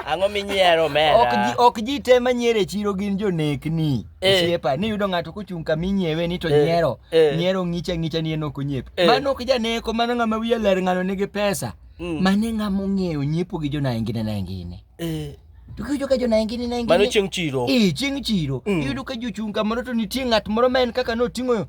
Ang'o minyiero mera? Ok ji ok ji te manyiero e chiro gin jonekni. Eh. Osiepa, ni yudo ng'ato kochung' kama inyiewe ni to Eh, nyiero. eh. Nyiero ng'icha ng'icha ni en ok onyiep. Eh. Mano ok janeko, mano ng'ama wiye ler ng'ano nigi pesa. Mm. Mane ng'ama ong'eyo nyiepo gi jonangine nangine. Eh, To kiyudo ka jonangine nangine. Mano chieng' chiro. Eh, chieng' chiro. Mm. Iyudo ka jochung' kamoro to nitie ng'at moro ma en kaka noting'o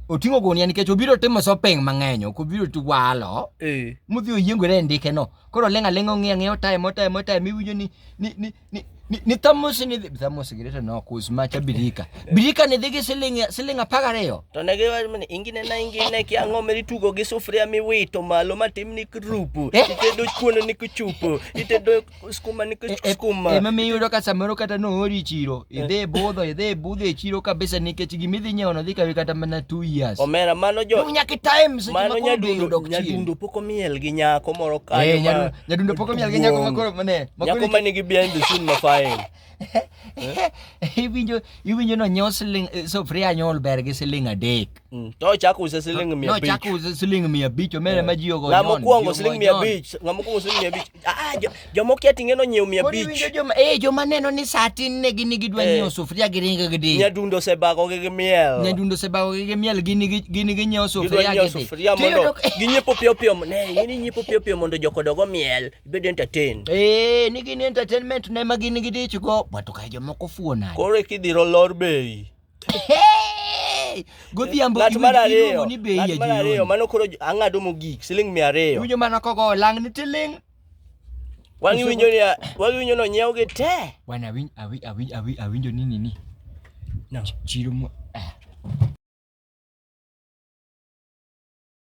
oting'o gunia nikech obiro timo shopping mang'eny, ok obiro tiwalo. Eh. mudhi oyiengore e ndike no Koro oleng' aleng'a ong'e ang'e otaye motaye motaye miwinjo ni ni ni ni ni, ni thamos ni dhi thamos gi to no kus macha birika. Birika ni dhi gi siling siling apar ariyo. To ne gi wacho ni ingine na ingine ki ang'o meri tugo gi sufuria miwito malo matim ni krupu. Eh? Itedo kuono ni kuchupu. Itedo skuma ni eh, eh, skuma. Ema miyudo ka samoro kata no ori chiro. Idhe budho, idhe budho e chiro kabisa nikech gima idhi nyiewo no dhi kawi kata mana 2 years. Omera mano jo. Dunya ki time seche ma koro dhi yudo chiro. Nyadundo pok omiel gi nyako moro kanyo. Eh, nyadundo, nyadundo pok omiel gi nyako makoro mane. Nyako ma nigi behind the scene mafain. Iwinjo iwinjo no nyiewo siling eh, sufria nyol ber gi siling adek. Mm. To chako uze siling 500. No chako uze siling 500 omene eh. ma ji ogo. Ngamo kuongo siling 500. Ngamo kuongo siling 500. Ah jomo kia tingeno nyiew 500. Kodi winjo joma eh joma neno ni saa tin ne gini gidwa eh. nyiew sufuria gi ringo gi di. Nyadundo se bago gi miel. Nyadundo se bago gi miel gini gini gi nyiew sufuria gi di. Sufuria mondo ginyepo pio pio ne gini nyepo pio pio mondo jokodogo miel bedo entertain. Eh ni gini entertainment ne ma gini gidichgo. Watu ka jomoko fuona. Kore kidhiro lor bei. godhiambo ng'at mar ariyo ni bei ya mar ariyo mano koro ang'ado mogik siling mia ariyo winjo mano kogo lang ni tiling wang'i winjo ni wang'i winjo no nyiew gi te wan awinj awinj awinj awinj awinjo ni nini no chiro mo eh.